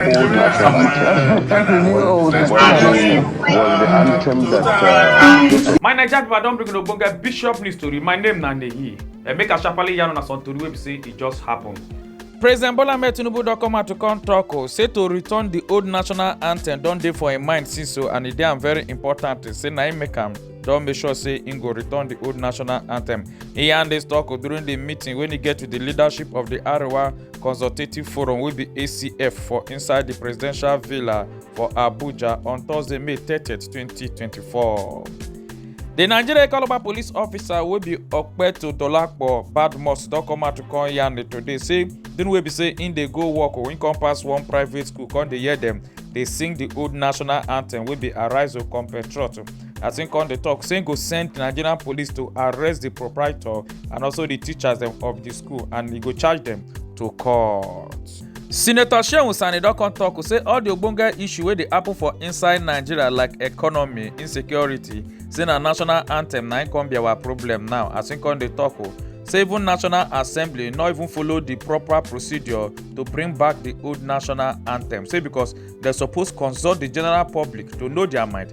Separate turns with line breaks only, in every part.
old national anthem. Well, the, well, the anthem that. Uh, my Naija people don bring ogbonge bishop news story. My name na Neyi. Eh, make a sharply yarn una some tori wey be say e just happen. president bola ahmed tinubu don come out to come tok o oh, say to return di old national anthem don dey for im mind since o oh, and e dey am very important say na im make am don make sure say im go return di old national anthem e yarn dis tok oh, during di meeting wey e get with di leadership of di arewa consultative forum wey be acf for inside di presidential villa for abuja on thursday may 30 2024 di nigeria economic police officer wey be okpeto dolapo badmus don come out to come yarn today say di wey be say im dey go work wey come pass one private school come dey hear dem dey sing di old national anthem wey be arise o compatriot as him come dey talk say him go send nigerian police to arrest the proprietor and also the teachers dem of the school and he go charge them to court. senator shehu sani don come talk say all the ogbonge issue wey dey happen for inside nigeria like economy insecurity say na national anthem na im come be our problem now as im come dey talk o say even national assembly no even follow the proper procedure to bring back the old national anthem say because dem suppose consult the general public to know their mind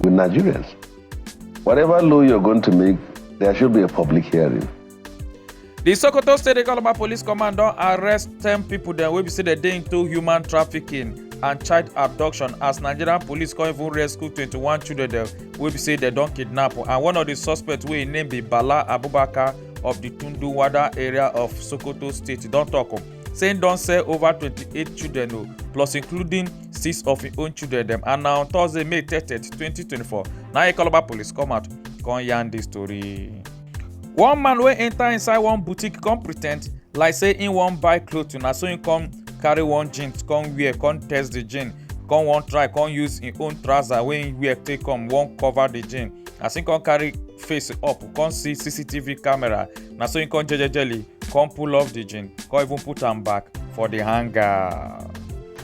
with Nigerians. Whatever law you're going to make, there should be a public hearing. The Sokoto State Economic Police Command don arrest ten people dem wey be say dem dey into human trafficking and child abduction as nigerian police come even rescue 21 children dem wey be say dem don kidnap and one of di suspects wey im name be bala abubakar of di tundu wada area of sokoto state don tok say im don sell over 28 children o plus including six of im own children dem and na on thursday may thirty twenty twenty four na ikoloba police come out come yarn dis tori. one man wey enter inside one boutique come pretend like say im wan buy cloth na so im come carry one jeans come wear come test the jeans come wan try come use im own trouser wey im wear take come wan cover the jeans as im come carry face up come see cctv camera na so im come jejejely come pull off the jeans come even put am back for the hanger.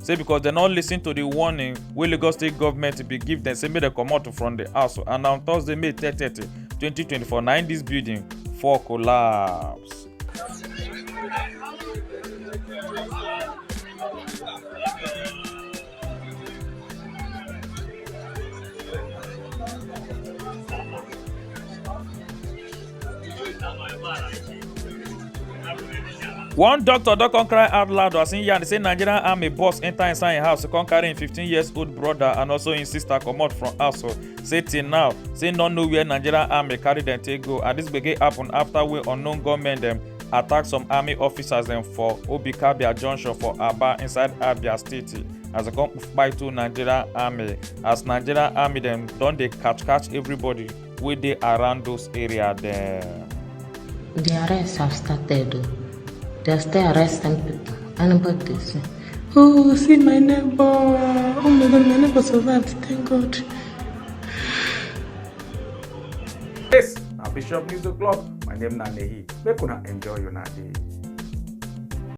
say because dem no listen to di warning wey lagos state government bin give dem say make dem comot from di house and na on thursday may 30 2024 na im dis building fall collapse. one doctor don come cry out loud as im yarn say nigerian army boss enter inside im house come carry im 15 years old brother and also im sister comot from house say till now say no know where nigerian army carry dem take go and dis gbege happen after wey unknown gunmen dem attack some army officers dem for obikabia junction for aba inside abia state as dem come kpai two nigerian army as nigerian army dem don dey catch catch everybody. wey dey around those area there. The arrests have started. Oh. They are still arresting people. Anybody they see. Oh, see my neighbor. Oh my God, my neighbor survived. Thank God. Yes, now Bishop News O'Clock. My name is Nanehi. Make una enjoy your day.